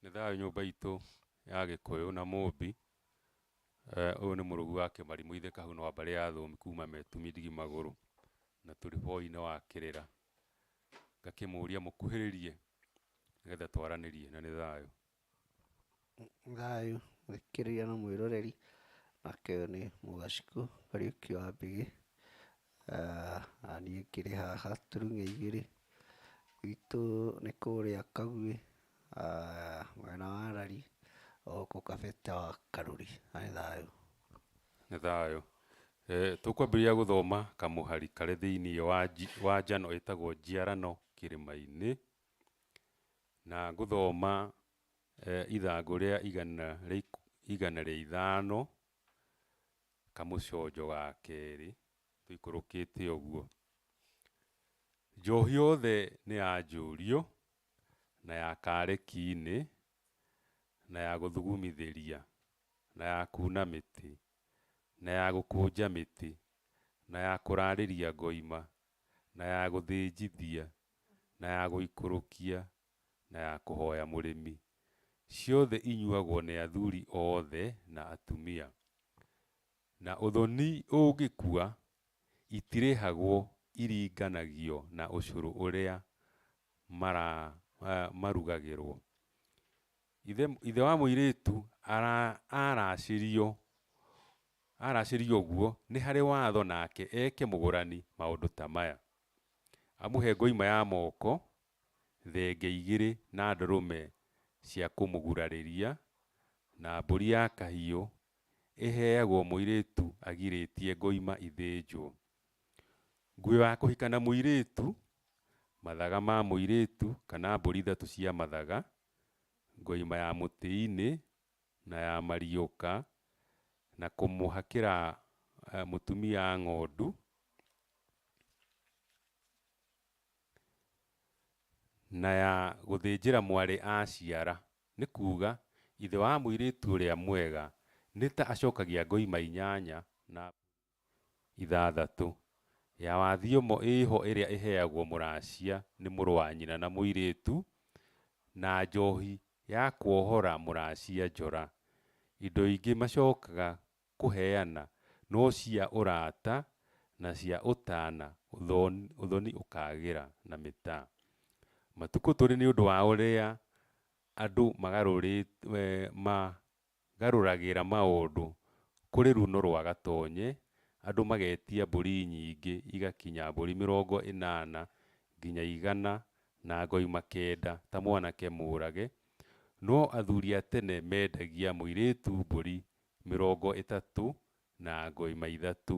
Nĩ thayũ nyũmba itũ ya gĩkũyũ na Mũmbi. Ũyũ nĩ mũrũgu wa Kĩmari mũithe Kahuna wa mbarĩ ya Thũmbĩ kuma Metumi ndigi magũrũ na tũrĩ boi-inĩ wa Kĩrĩra. Ngakĩmũria mũkuhĩrĩrie nĩgetha twaranĩrie na nĩ thayũ. Thayũ ũkĩrĩo nĩ mwĩroreri, nake ũyũ nĩ mũgacikũ Kariuki wa Mbĩgĩ, na niĩ ngĩrĩ haha Turung'e igĩrĩ. Gwitũ nĩ kũrĩa Kaguĩ mwena wa Rari o gũkũ kabete wa Karuri. Na nĩ thayũ. Nĩ thayũ. Tũkwambĩrĩria gũthoma kamũhari karĩ thĩiniĩ wa njano ĩtagwo Njiarano Kĩrĩma-inĩ. Na ngũthoma ithangũ rĩa igana rĩa igana rĩa ithano, kamũconjo ga kerĩ tũikũrũkĩte ũguo. Njohi yothe nĩ ya njũrio, na ya kareki-inĩ, na ya gũthugumithĩria, na ya kuuna mĩtĩ, na ya gũkũnja mĩtĩ, na ya kũraarĩria ngoima, na ya gũthĩnjithia, na ya gũikũrũkia, na ya kũhooya mũrĩmi, ciothe inyuagwo nĩ athuri oothe na atumia. Na ũthoni ũngĩkua, itirĩhagwo iringanagio na ũcũrũ ũrĩa mara, marugagĩrwo. Ithe, ithe wa mũirĩĩtu ara, araacĩrio, araacĩrio ũguo nĩ harĩ watho nake eeke mũgũrani maũndũ ta maya. Amũhe ngoima ya moko, thenge igĩrĩ na ndũrũme cia kũmũgurarĩria, na mbũri ya kahiũ ĩheagwo mũirĩtu agirĩtie ngoima ithĩnjwo. Nguo ya kũhika na mũirĩtu, mathaga ma mũirĩtu kana mbũri ithatũ cia mathaga, ngoima ya mũtĩ-inĩ na ya mariũka, na kũmũhakĩra mũtumia ng'ondu, na ya gũthĩnjĩra mwarĩ aaciara, nĩ kuuga, ithe wa mũirĩtu ũrĩa mwega, nĩ ta acokagia ngoima inyanya na mbũri. ithathatũ ya wa thiomo ĩĩho ĩrĩa ĩheagwo mũracia nĩ mũrũ wa nyina na mũirĩtu, na njohi ya kwohora mũracia njora. Indo ingĩ macokaga kũheana no cia ũrata na cia ũtana ũthoni ũkagĩra na mĩtaa. Matukũ tũrĩ nĩ ũndũ wa ũrĩa andũ magarũrĩ, ma, Garũragĩra maũndũ kũrĩ runo rwa gatonye, andũ magetia mbũri nyingĩ igakinya mbũri mĩrongo ĩnana nginya igana na ngoi makenda ta mwanake mũũrage, no athuri a tene mendagia mũirĩtu mbũri mĩrongo ĩtatũ na ngoi ma ithatũ.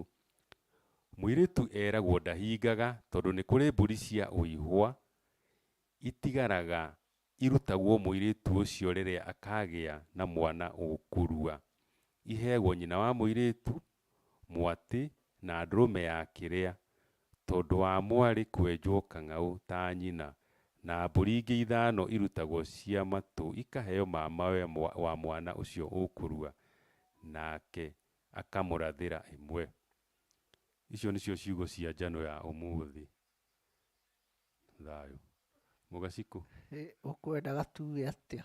Mũirĩtu eragwo ndahingaga tondũ nĩ kũrĩ mbũri cia ũihwa itigaraga Irutagwo mũirĩtu ũcio rĩrĩa akaagĩa na mwana ũkũrua. Iheagwo nyina wa mũirĩtu, mwatĩ, na ndũrũme ya kĩrĩa, tondũ wa mwarĩ kwenjwo kang'aũ ta nyina, na mbũri ingĩ ithano irutagwo cia matũ ikaheo mamawe wa mwana ũcio ũkũrua, nake akamũrathĩra ĩmwe. Icio nĩcio ciugo cia njano ya ũmũthĩ. Thayũ. Mũgacikũ. Ũkwenda gatue atĩa?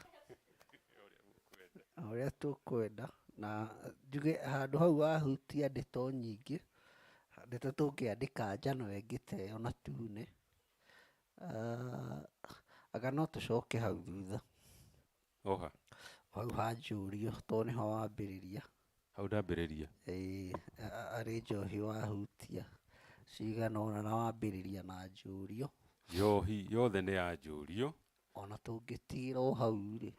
Ũrĩa tũkwenda. Na njuge handũ hau wahutia ndeto nyingĩ, ndeto tũngĩandĩka njano ĩngĩ ta ĩyo na tune, anga no tũcoke hau thutha. Oha. Hau hanjũrio tondũ nĩho wambĩrĩria. Hau ndambĩrĩria. Ĩĩ, arĩ njohi wahutia cigana ũna na wambĩrĩria na njũrio. Njohi yothe nĩ ya njũrio. Ona tũngĩtigĩra o hau rĩ,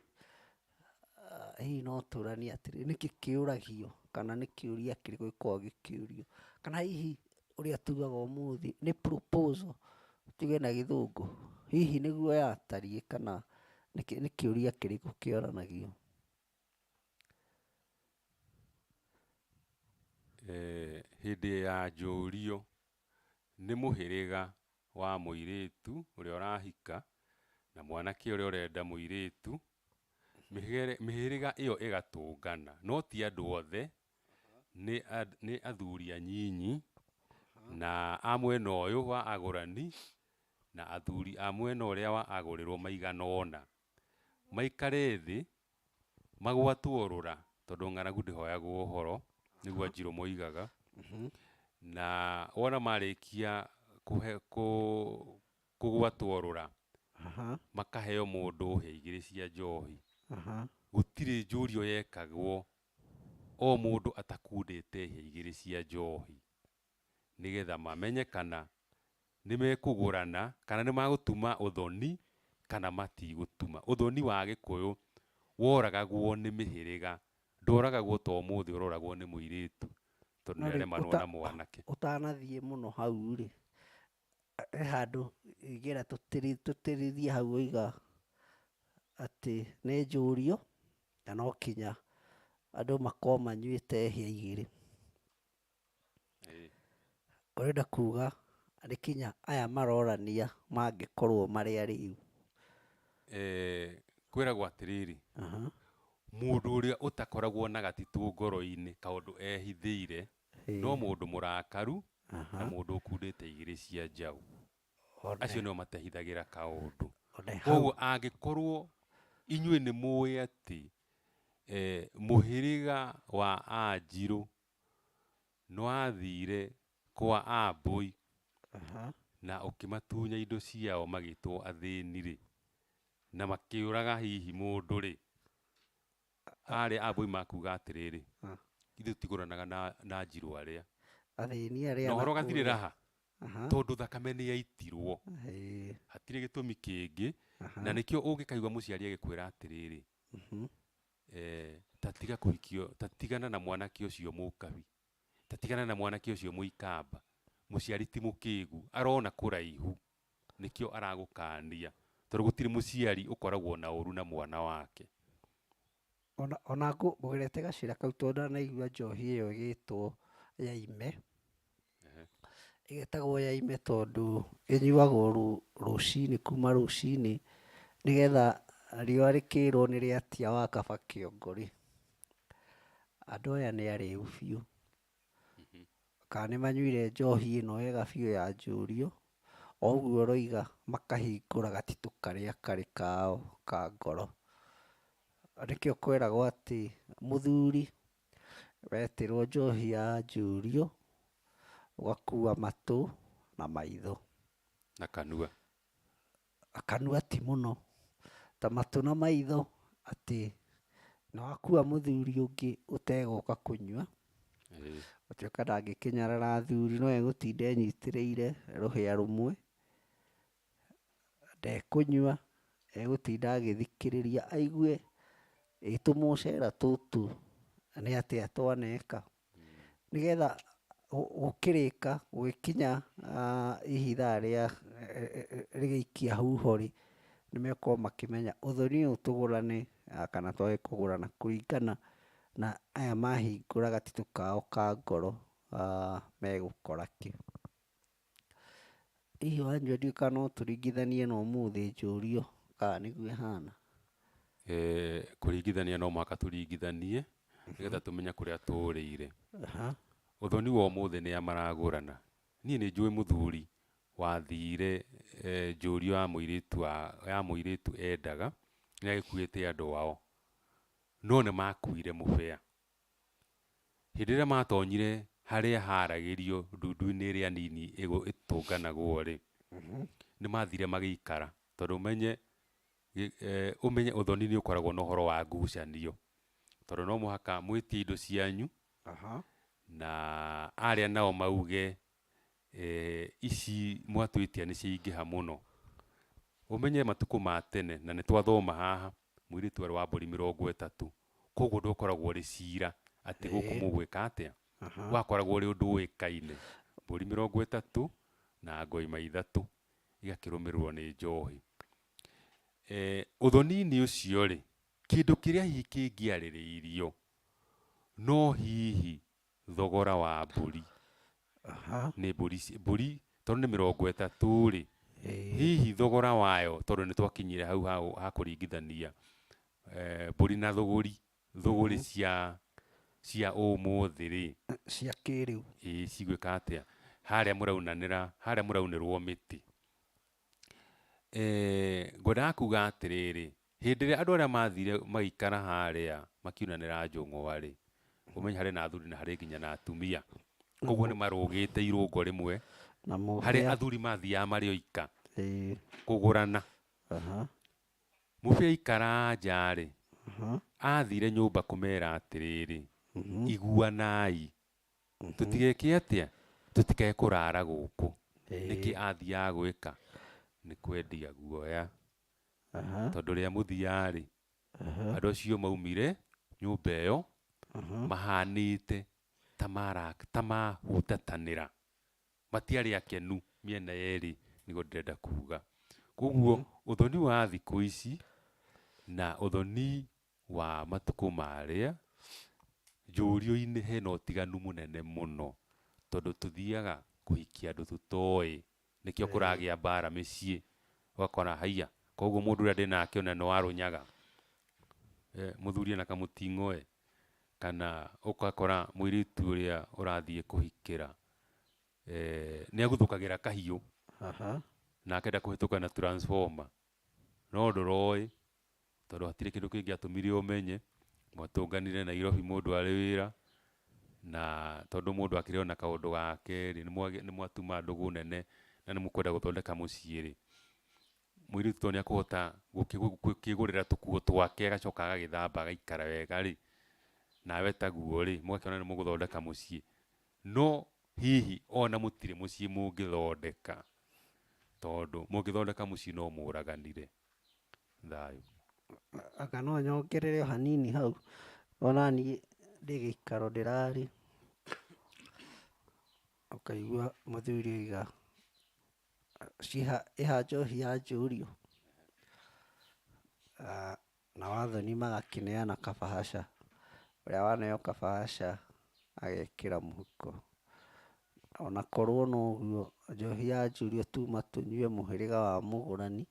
hihi no tũranie atĩrĩ, nĩkĩ kĩũragio kana nĩ kĩũria kĩrĩkũ gĩkoragwo gĩkĩũrio? Kana hihi ũrĩa tugaga ũmũthĩ nĩ proposal tuge na gĩthũngũ, hihi nĩguo yatariĩ kana nĩ kĩũria kĩrĩkũ kĩonanagio? Hĩndĩ ya njũrio, nĩ mũhĩrĩga wa mũirĩtu ũrĩa ũrahika na mwanake ũrĩa ũrenda mũirĩtu, mĩhĩrĩga ĩyo ĩgatũngana, no ti andũ othe nĩ nĩ athuri anyinyi, na a mwena ũyũ wa agũrani, na athuri a mwena ũrĩa wa agũrĩrwo maigana ũna, maikare thĩ, magwatwo rũra, tondũ ng'aragu ndĩhoyagwo ũhoro, nĩguo Wanjirũ moigaga, na wona marĩkia kũhe kũ kũgwatwo rũra, makaheo mũndũ hĩa igĩrĩ cia njohi, gũtirĩ njũrio yekagwo. o mũndũ atakundĩte hĩa igĩrĩ cia njohi nĩ getha mamenye kana nĩ mekũgũrana kana nĩ magũtuma ũthoni kana matigũtuma. Ũthoni wa Gĩkũyũ woragagwo nĩ mĩhĩrĩga, ndworagagwo ta ũmũthĩ ũroragwo nĩ mũirĩtu tondũ nĩ aremarwo na mwanake. Ũtanathiĩ mũno hau rĩ, He handũ ngĩenda tũtĩrithie hau ũiga atĩ nĩ njũrio na no kinya andũ makorwo manyuĩte hĩa igĩrĩ. Ũrenda kuga nĩ kinya aya marorania mangĩkorwo marĩ arĩu? Kwĩragwo atĩrĩrĩ, mũndũ ũrĩa ũtakoragwo na gatitũ ngoro-inĩ kaũndũ ehithĩire no mũndũ mũrakaru na mũndũ ũkundĩte igĩrĩ cia njaũ, acio nĩo matehithagĩra kaũndũ. Kwoguo angĩkorwo inyuĩ nĩ mũĩ atĩ mũhĩrĩga wa Anjirũ nĩ wathire kwa Ambũi na ũkĩmatunya indo ciao magĩtwo athĩni-rĩ, na makĩũraga hihi mũndũ-rĩ, Aarĩ a Boi makuuga atĩrĩrĩ, Ah. Ithuĩ tũtigũranaga na, na njirũ arĩa. Athĩni arĩa Na ũhoro gathirĩ nakũũrĩa. raha, Aha. tondũ thakame nĩyaitirwo. Ĩĩ. Hatirĩ gĩtũmi kĩngĩ. Aha. Na nĩkĩo ũngĩkaigua mũciari agĩkwĩra atĩrĩrĩ, Mhm. eh, ta tiga kũhikio, ta tigana na mwanake ũcio mũkabi, ta tigana na mwanake ũcio mũikamba, mũciari ti mũkĩgu, arona kũraihu. Nĩkĩo aragũkaania. Tondũ gũtirĩ mũciari ũkoragwo na ũũru na mwana wake. O na ngũgerete gacĩra kau tondũ ndanaigua njohi ĩyo ĩgĩtwo yaime. Ĩgetagwo yaime tondũ ĩnyuagwo rũcinĩ, kuma rũcinĩ nĩgetha riũa rĩkĩrwo nĩ rĩatia wa kaba kĩongo rĩ, andũ aya nĩ arĩu biũ. kana nĩ manyuire njohi ĩno ega biũ ya njũriũ, o ũguo ũroiga makahingũra gatitũ karĩa karĩ kao ka ngoro. Nĩkĩo kweragwo atĩ mũthuri wetĩrwo njohi ya njũriũ, ũgakua matũ na maitho. Na kanua. A kanua ti mũno ta matũ na maitho atĩ nĩ wakua mũthuri ũngĩ ũtegũka kũnyua, gũtuĩka ndangĩkĩnyarara athuri no egũtinda enyitĩrĩire rũhĩa rũmwe, ndekũnyua, egũtinda agĩthikĩrĩria aigue ĩ tũmũcera tũtũ nĩ atĩa twaneka. nĩgetha gũkĩrĩka, gũgĩkinya hihi ithaa rĩa rĩgĩikia huho-rĩ, nĩmegũkorwo makĩmenya ũthoni ũyũ tũgũrane kana twage kũgũrana kũringana na aya mahingũra gatitũ kao ka ngoro megũkora kĩ. Hihi wanjũria kana no tũringithanie na ũmũthĩ njũrio kana nĩguo ĩhana? Kũringithania no mũhaka tũringithanie nĩgetha tũmenye kũrĩa tũrĩire. Ũthoni wa ũmũthĩ nĩa maragũrana? Niĩ nĩ njũĩ mũthuri wathire njũrio ya mũirĩtu endaga nĩ agĩkuĩte andũ ao no nĩ makuire mũbĩa. Hĩndĩ ĩrĩa matonyire harĩa haragĩrio ndundu-inĩ ĩrĩa nini ĩtũnganagwo-rĩ, nĩmathire magĩikara tondũ ũmenye ũmenye ũthoni nĩũkoragwo na ũhoro wa ngucanio, tondũ no mũhaka mwĩtie indo cianyu na arĩa nao mauge ici mwatwĩtia nĩ ciaingĩha mũno. Ũmenye matukũ ma tene, na nĩ twathoma haha, mũirĩtu arĩ wa mbũri mĩrongo ĩtatũ. Kwoguo ndwakoragwo ũrĩ cira atĩ gũkũ mũgwĩka atĩa, wakoragwo ũrĩ ũndũ ũĩkaine. Mbũri mĩrongo ĩtatũ na ngoima ithatũ igakĩrũmĩrĩrwo nĩ njohi. Ũthoni-inĩ ũcio rĩ, kĩndũ kĩrĩa hihi kĩngĩarĩrĩirio no hihi thogora wa mbũri Aha. nĩ mbũri ici- mbũri tondũ nĩ mĩrongo ĩtatũ rĩ Ĩĩ. hihi thogora wayo tondũ nĩ twakinyire hau ha ũ- ha kũringithania eh, mbũri na thũgũri thũgũri cia cia ũmũthĩ rĩ Cia kĩrĩu. ĩ cigwĩka atĩa harĩa mũraunanĩra harĩa mũraunĩrwo mĩtĩ Eh, ngwendaga kuga atĩrĩrĩ Hĩndĩ ĩrĩa andũ arĩa maathire magĩikara harĩa makiunanĩra njũng'wa-rĩ, ũmenye harĩ na athuri na harĩ nginya na atumia. Koguo nĩ marũgĩte irũngo rĩmwe harĩa athuri mathiaga marĩ oika kũgũrana. Mũbĩa aikara nja-rĩ, athire nyũmba kũmera atĩrĩrĩ, iguanai, tũtigeke atĩa? Tũtikae kũrara gũkũ. Nĩkĩ athiaga gwĩka? Nĩ kwendia guoya. Aha. Tondũ rĩa mũthia-rĩ, Aha. andũ acio maumire nyũmba ĩyo Aha. mahanĩte ta mara- ta mahutatanĩra. Matiarĩ akenu mĩena yerĩ nĩguo ndĩrenda kuga. Kuoguo ũthoni wa thikũ ici na ũthoni wa matukũ marĩa, njũrio-inĩ hena ũtiganu mũnene mũno, tondũ tũthiaga kũhikia andũ tũtoĩ, nĩkĩo kũragĩa mbara mĩciĩ, ũgakora haiya, koguo mũndũ ũrĩa ndĩnake ona nĩ wa rũnyaga, mũthuri ena kamũting'oĩ, kana ũgakora mũirĩtu ũrĩa ũrathiĩ kũhikĩra, nĩ aguthũkagĩra kahiũ, na akenda kũhetũka na transformer, no ndũroĩ. tondũ hatirĩ kĩndũ kĩngĩatũmire ũmenye, mwatũnganire Nairobi mũndũ arĩ wĩra, na tondũ mũndũ akĩrĩ o na kaũndũ gake rĩ, nĩ mwatuma ndũgũ nene na nĩ mũkwenda gũthondeka mũciĩ rĩ, mũirĩtu tondũ nĩ ekũhota gũkĩĩgũrĩra tũkuo twake agacoka agagĩthamba agaikara wega rĩ, nawe taguo rĩ, mũgakĩona nĩ mũgũthondeka mũciĩ. No hihi o na mũtirĩ mũciĩ mũngĩthondeka, tondũ mũngĩthondeka mũciĩ no mũraganire. thayũ. Anga no nyongerere o hanini hau, o na niĩ ndĩ gĩikaro ndĩrarĩ, ũkaigua mũthuri auga, ĩ ha njohi ya njũriũ? Nao athoni magakĩneana kabahaca, ũrĩa waneo kabahaca agekĩra mũhuko. Ona korwo no ũguo, njohi yanjũrio tuma tũnyue mũhĩrĩga wa mũgũrani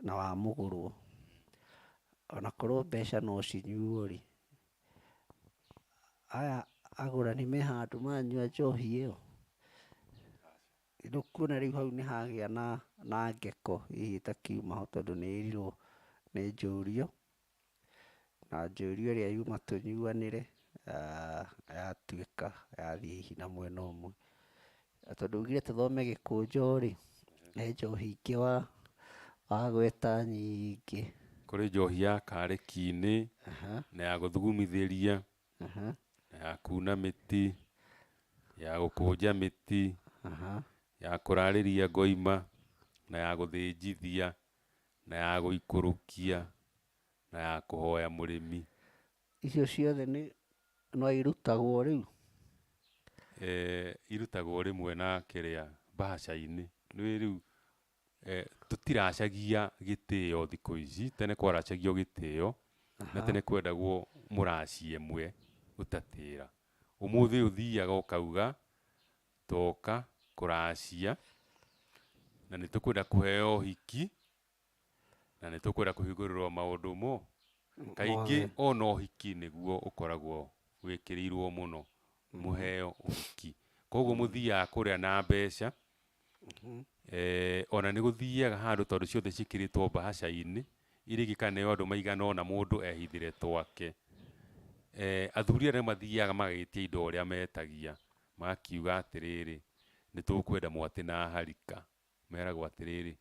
na wa mũgũrwo. Ona korwo mbeca no cinyuo rĩ, aya agũrani me handũ manyua njohi ĩyo, nĩũkuona rĩu hau nĩhagĩa na na ngeko hihi ĩtakiuma ho tondũ nĩĩrirwo nĩ njũrio. Na njũria ĩrĩa yuma tũnyuanĩre yatuĩka yathiĩ hihi na mwena ũmwe. Na tondũ augire tũthome gĩkũnjo rĩ, he njohi ingĩ wagweta nyingĩ. Kũrĩ njohi ya karĩki-inĩ, na ya gũthugumithĩria, na ya kuuna mĩtĩ, ya gũkũnja mĩtĩ, ya kũrarĩria ngoima, na ya gũthĩnjithia. na ya gũikũrũkia, na ya kũhoya mũrĩmi. Icio ciothe nĩ no irutagwo rĩu? Irutagwo rĩmwe na kĩrĩa, mbahaca-inĩ. Nĩũĩ rĩu tũtiracagia gĩtĩo thikũ ici, tene kwaracagio gĩtĩo, na tene kwendagwo mũraci ĩmwe gũtatĩra. Ũmũthĩ ũthiaga ũkauga, Twoka kũracia, na nĩ tũkwenda kũheo ũhiki, na nĩ tũkwenda kũhingũrĩrũo maũndũ mo. Kaingĩ o na ũhiki nĩguo ũkoragwo wĩkĩrĩirũo mũno, mũheo ũhiki. Kwoguo mũthiaga kũrĩa na mbeca, o na nĩ gũthiaga handũ tondũ ciothe ciĩkĩrĩtwo mbahaca-inĩ, iria ingĩ ikaneo andũ maigana ũna mũndũ ehithĩre twake. Athuri aya nĩ mathiaga magagĩtia indo ũrĩa metagia, Makiuga atĩrĩrĩ, Nĩtũkwenda mwatĩ na harika. Meragwo atĩrĩrĩ,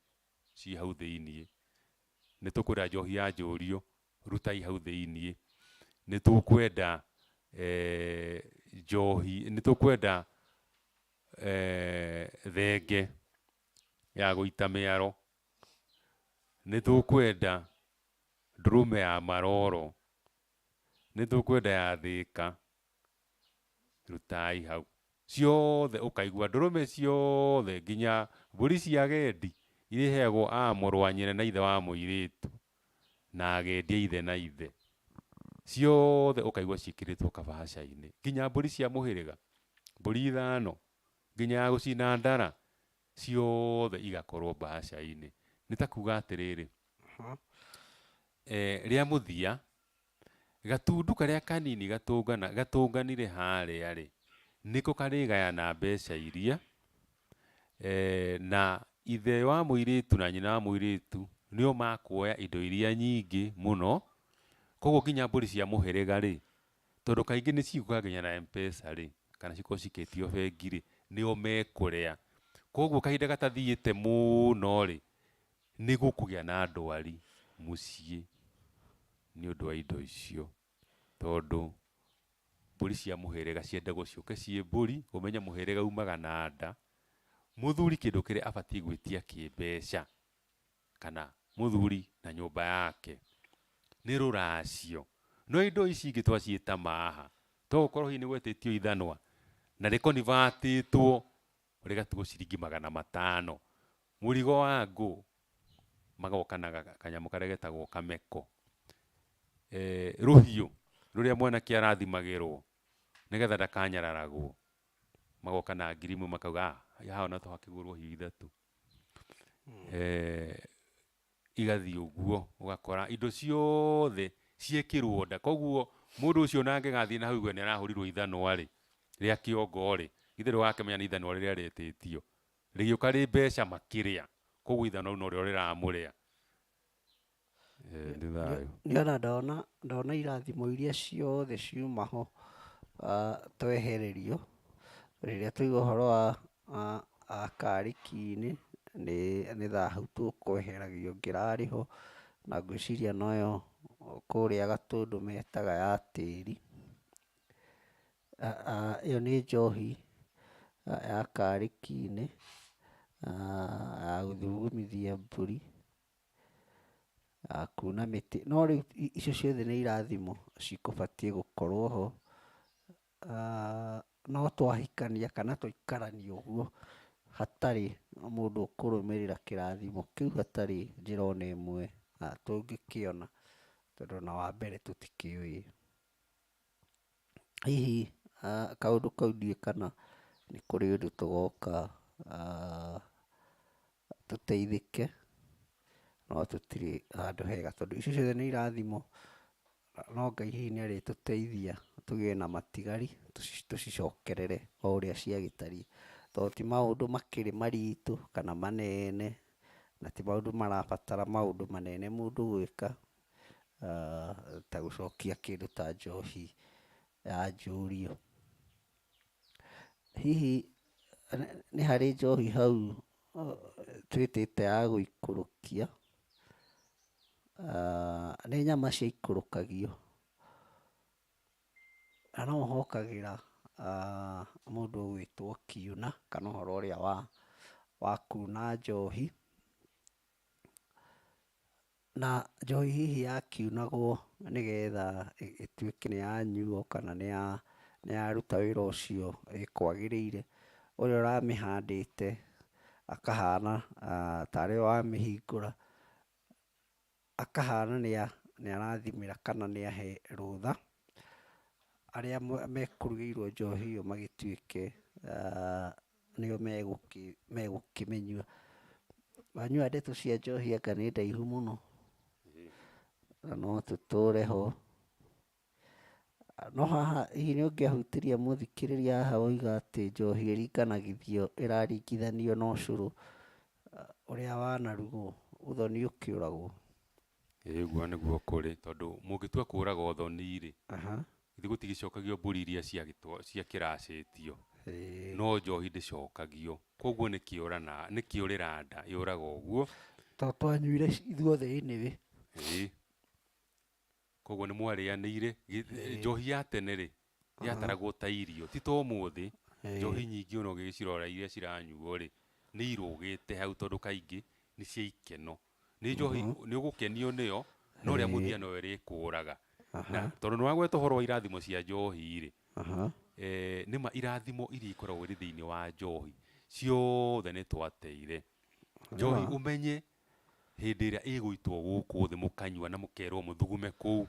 Ciĩ hau thĩinĩ. Nĩtũkwenda njohi ya njũrio. Rutai hau thĩinĩ. Nĩtũkwenda njohi, nĩtũkwenda thenge ya gũita mĩaro. Nĩtũkwenda ndũrũme ya maroro. Nĩtũkwenda ya thĩka. Rutai hau ciothe ũkaigua ndũrũme ciothe nginya mbũri cia agendi irĩheagwo a mũrũ wa nyina na ithe wa mũirĩtu na agendi a ithe na ithe ciothe ũkaigua ciĩkĩrĩtwo kabahaca-inĩ nginya mbũri cia mũhĩrĩga mbũri ithano nginya ya gũcina ndara ciothe igakorwo mbahaca-inĩ nĩ ta kuga atĩrĩrĩ rĩa mũthia Gatundu karĩa kanini gatũngana, gatũnganire harĩa rĩ, nĩko karĩgayana mbeca iria, na ithe wa mũirĩtu na nyina wa mũirĩtu nĩo makuoya indo iria nyingĩ mũno, koguo nginya mbũri cia mũhĩrĩga rĩ, tondũ kaingĩ nĩ ciũkaga nginya na M-pesa rĩ, kana cikorwo cikĩtio bengi rĩ, nĩo mekũrĩa. Koguo kahinda gatathiĩte mũno rĩ, Nĩ gũkũgĩa na ndwari mũciĩ nĩ ũndũ wa indo icio, tondũ mbũri cia mũhĩrĩga ciendagwo ciũke ciĩ mbũri, ũmenye mũhĩrĩga umaga na nda. Mũthuri kĩndũ kĩrĩa abatiĩ gwĩtia kĩmbeca, kana mũthuri na nyũmba yake nĩ rũracio. No indo ici ingĩ twaciĩta maha, to gũkorwo hihi nĩ gwetĩtio ithanwa na rĩ convert ĩtwo ũrĩ gatugo ciringi magana matano. Mũrigo wa ngũ, magoka na kanyamũ karĩa getagwo kameko. Rũhiũ rũrĩa mwanake arathimagĩrwo nĩgetha ndakanyararagwo, magoka na ngiri ĩmwe makauga, ah, haha no tũhakĩgũrwo hiũ ithatũ. igathiĩ ũguo, ũgakora indo ciothe ciekĩrwo nda. Koguo mũndũ ũcio ona angĩgathiĩ na hau auge nĩ arahũrirwo ithanwa rĩ, rĩa kĩongo rĩ, githĩ ndũgakĩmenya nĩ ithanwa rĩrĩa rĩetĩtio. Rĩgĩũka rĩ mbeca makĩrĩa, koguo ithanwa rĩu norĩo rĩramũrĩa. Nĩ thayũ. Nĩ wona ndona, ndona irathimo iria ciothe ciuma ho twehererio, rĩrĩa twaigua ũhoro wa Kariki-inĩ nĩ nĩ thahu tũkweheragio ngĩrarĩ ho, na ngwĩciria noyo kũrĩa Gatũndũ metaga ya tĩri. Ĩyo nĩ njohi ya kariki-inĩ ya gũthugumithia mbũri, ya kuna mĩtĩ. No rĩu icio ciothe nĩ irathimo cikũbatiĩ gũkorwo ho. no twahikania kana tũikaranie ũguo hatarĩ mũndũ ũkũrũmĩrĩra kĩrathimo kĩu hatarĩ njĩra ona ĩmwe tũngĩkĩona tondũ ona wa mbere tũtikĩũĩ. Hihi kaũndũ kau ndiũĩ kana nĩ kũrĩ ũndũ tũgoka. tũteithĩke, no tũtirĩ handũ hega tondũ icio ciothe nĩ irathimo, no Ngai hihi nĩ arĩtũteithia tũgĩe na matigari tũcicokerere o ũrĩa ciagĩtariĩ, tondũ ti maũndũ makĩrĩ maritũ kana manene, na ti maũndũ marabatara maũndũ manene mũndũ gwĩka, ta gũcokia kĩndũ ta njohi yanjũrio. Hihi nĩ harĩ njohi hau twĩtĩte ya gũikũrũkia? Nĩ nyama ciaikũrũkagio, na no hokagĩra mũndũ ũgwĩtwo kiuna kana ũhoro ũrĩa wa wa kuna njohi. Na njohi hihi ya kiunagwo nĩ getha ĩtuĩke nĩ ya nyuo kana nĩ ya ruta wĩra ũcio ĩkwagĩrĩire, ũrĩa ũramĩhandĩte akahana tarĩ we wamĩhingũra, akahana nĩ arathimĩra kana nĩ ahe rũtha, arĩa mekũrugĩirwo njohi ĩyo magĩtuĩke a. nĩo megũkĩmĩnyua. Wanyua ndeto cia njohi anga nĩ ndaihu mũno, na no tũtũre ho. No haha hihi nĩ ũngĩahutirie mũthikĩrĩria haha woiga atĩ njohi ĩringanagithio, ĩraringithanio na ũcũrũ ũrĩa wanarugwo, ũthoni ũkĩũragwo. Ĩĩ ũguo nĩguo kũrĩ, tondũ mũngĩtua kũũraga ũthoni-rĩ, githĩ gũtigĩcokagio mbũri iria ciakĩracĩtio? No njohi ndĩcokagio. Kũoguo nĩ kĩũrana, nĩ kĩũrĩra nda yũraga ũguo. To twanyuire ithuothe anyway. Ĩĩ. Kũoguo nĩ mwarĩanĩire. Njohi ya tene-rĩ, yataragwo ta irio ti ta ũmũthĩ Ĩĩ. njohi nyingĩ ona ũgĩcirora iria ciranyuo rĩ nĩ irũgĩte hau tondũ kaingĩ nĩ cia ikeno nĩ njohi nĩ ũgũkenio nĩyo no rĩa Ĩĩ. mũthia no ĩrĩkũraga na tondũ nĩ wagweta ũhoro wa irathimo cia njohi rĩ Aha. eh, nĩ ma irathimo iria ikoragwo irĩ thĩinĩ wa njohi ciothe nĩ twateire njohi Wega. ũmenye hĩndĩ ĩrĩa ĩgũitwo gũkũ thĩ mũkanyua na mũkerwo mũthugume kũu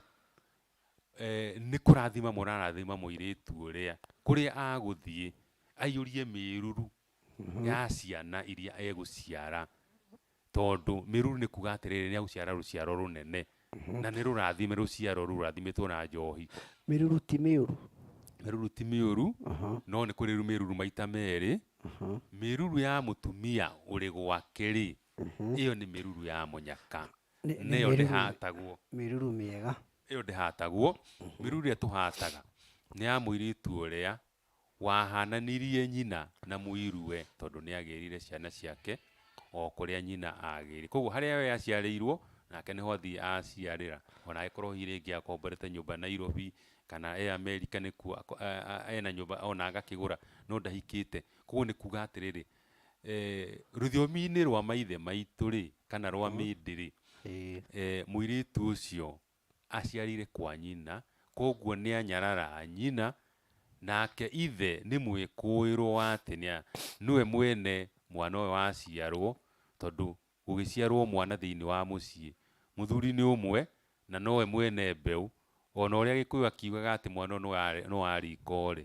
Nĩ kũrathima mũrarathima mũirĩtu ũrĩa, kũrĩa agũthiĩ aiyũrie mĩruru ya ciana iria egũciara, tondũ mĩruru nĩ kuuga atĩrĩrĩ nĩ egũciara rũciaro rũnene, na nĩ rũrathime rũciaro rũu rũrathimĩtwo na njohi. Mĩruru ti mĩũru? Mĩruru ti mĩũru, no nĩ kũrĩ mĩruru maita merĩ. Mĩruru ya mũtumia ũrĩ gwake-rĩ, ĩyo nĩ mĩruru ya mũnyaka. Nĩ- nĩ nĩyo mĩruru- ndĩhatagwo mĩruru mĩega ĩyo ndĩhatagwo mĩruru ĩrĩa tũhataga nĩ ya mũirĩtu ũrĩa wahananirie nyina na mũirue tondũ nĩ agĩrire ciana ciake o kũrĩa nyina agĩrire koguo harĩa we aciarĩirwo nake nĩho athiĩ aciarĩra ona agĩkorwo hihi rĩngĩ akomborete nyũmba Nairobi kana e Amerika nĩkuo ako- a- a- ena nyũmba ona agakĩgũra no ndahikĩte koguo nĩ kuga atĩrĩrĩ Eh, rũthiomi-inĩ rwa maithe maitũ-rĩ, kana rwa Mhm. mĩndĩ-rĩ, Ĩĩ. eh, mũirĩtu ũcio aciarĩire kwa nyina, koguo nĩanyarara nyina, nake ithe nĩ mwĩkũĩrwo wa atĩ nĩa, nĩwe mwene mwana ũyũ waciarwo, tondũ gũgĩciarwo mwana thĩiniĩ wa mũciĩ, mũthuri nĩ ũmwe, na nowe mwene mbeũ, ona ũrĩa gĩkũyũ akiugaga atĩ mwana ũyũ nĩwa, nĩwa riko-rĩ,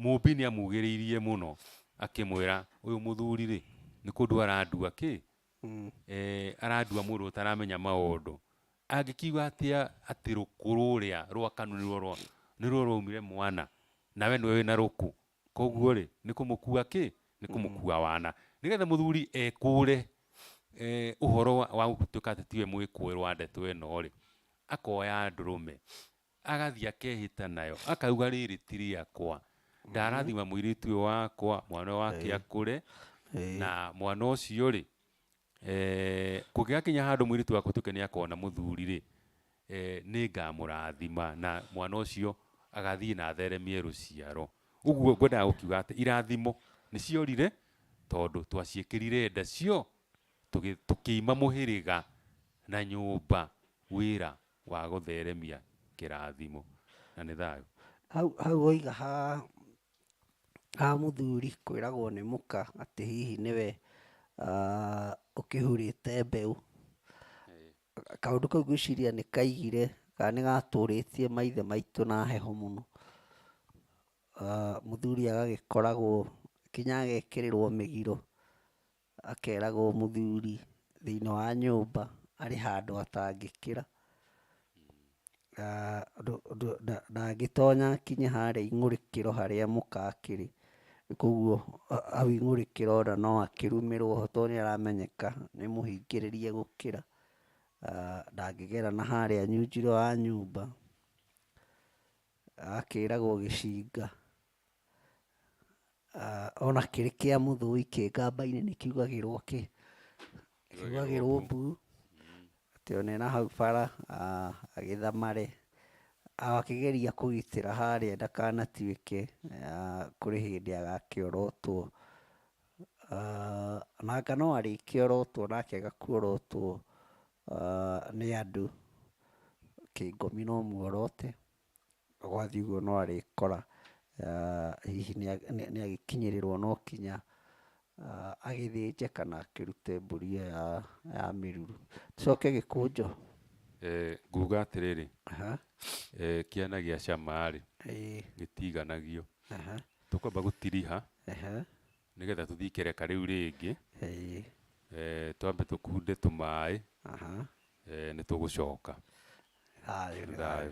Mũũmbi nĩamugĩrĩirie mũno akĩmwĩra, ũyũ mũthuri-rĩ, nĩ kũndua arandua kĩ? Arandua mũndũ ũtaramenya maũndũ. Angĩkiuga atĩa atĩ rũkũ rũrĩa rwa kanu nĩruo nĩruo rwaumire mwana, nawe nĩwe wĩna rũkũ? Kuoguo-rĩ, nĩ kũmũkua kĩ? Nĩ kũmũkua wana. Nĩgetha mũthuri ekũre ũhoro wa gũtuĩka atĩ tiwe mwĩkũĩrwo wa ndeto ĩno-rĩ, akoya ndũrũme, agathiĩ akehĩta nayo akauga rĩrĩ ti rĩakwa ndarathima mũirĩtu ũyũ wakwa mwana ũyũ wake Ĩĩ. akũre Ĩĩ. na mwana ũcio rĩ eh, kũngĩgakinya handũ mũirĩtu wakwa tuĩke nĩ akona mũthuri rĩ eh, nĩ ngamũrathima na mwana ũcio agathiĩ na atheremie rũciaro ũguo ngwendaga gũkiuga atĩ irathimo nĩ ciorire tondũ twaciĩkĩrire nda cio tũgĩ- tũkĩima mũhĩrĩga na nyũmba wĩra wa gũtheremia kĩrathimo. Na nĩ thayũ. Hau, hau woiga ha, ha mũthuri kwĩragwo nĩ mũka atĩ hihi nĩwe uh, ũkĩhurĩte mbeũ. Kaũndũ kau gwĩciria nĩ kaigire kana nĩ gatũrĩtie maithe maitũ na heho mũno. Uh, mũthuri agagĩkoragwo kinya agekĩrĩrwo mĩgiro Akeragwo mũthuri thĩinĩ wa nyũmba arĩ handũ atangĩkĩra, ndangĩtonya akinye harĩa ing'ũrĩkĩro harĩa mũka akĩrĩ, koguo hau ing'ũrĩkĩro ona no akĩrumĩrwo ho tondũ nĩ aramenyeka nĩ mũhingĩrĩria gũkĩra, ndangĩgera na harĩa nyunjiro ya nyũmba, akeragwo gĩcinga. Ona kĩrĩ kĩa mũthũi kĩ ngamba-inĩ nĩ kiugagĩrwo kĩ? Kiugagĩrwo mbu, atĩ ona ena hau bara agĩthamare, akĩgeria kũgitĩra harĩa ndakanatuĩke kũrĩ hĩndĩ agakĩorotwo. Ona anga no arĩkĩorotwo na akĩaga kuorotwo nĩ andũ, kĩngũmi no muorote. Gwathiĩ ũguo no arĩkora hihi nĩ agĩkinyĩrĩrwo no kinya agĩthĩnje kana akĩrute mbũri ĩyo ya mĩruru. Tũcoke gĩkũnjũ. Nguga atĩrĩrĩ, kĩana gĩa cama rĩ, gĩtiganagio. Tũkwamba gũtiriha. Nĩgetha tũthiĩ ikereka rĩu rĩngĩ, Ĩĩ. eh, twambe tũkunde tũmaĩ, Aha. eh, nĩ tũgũcoka. Thayũ nĩ thayũ.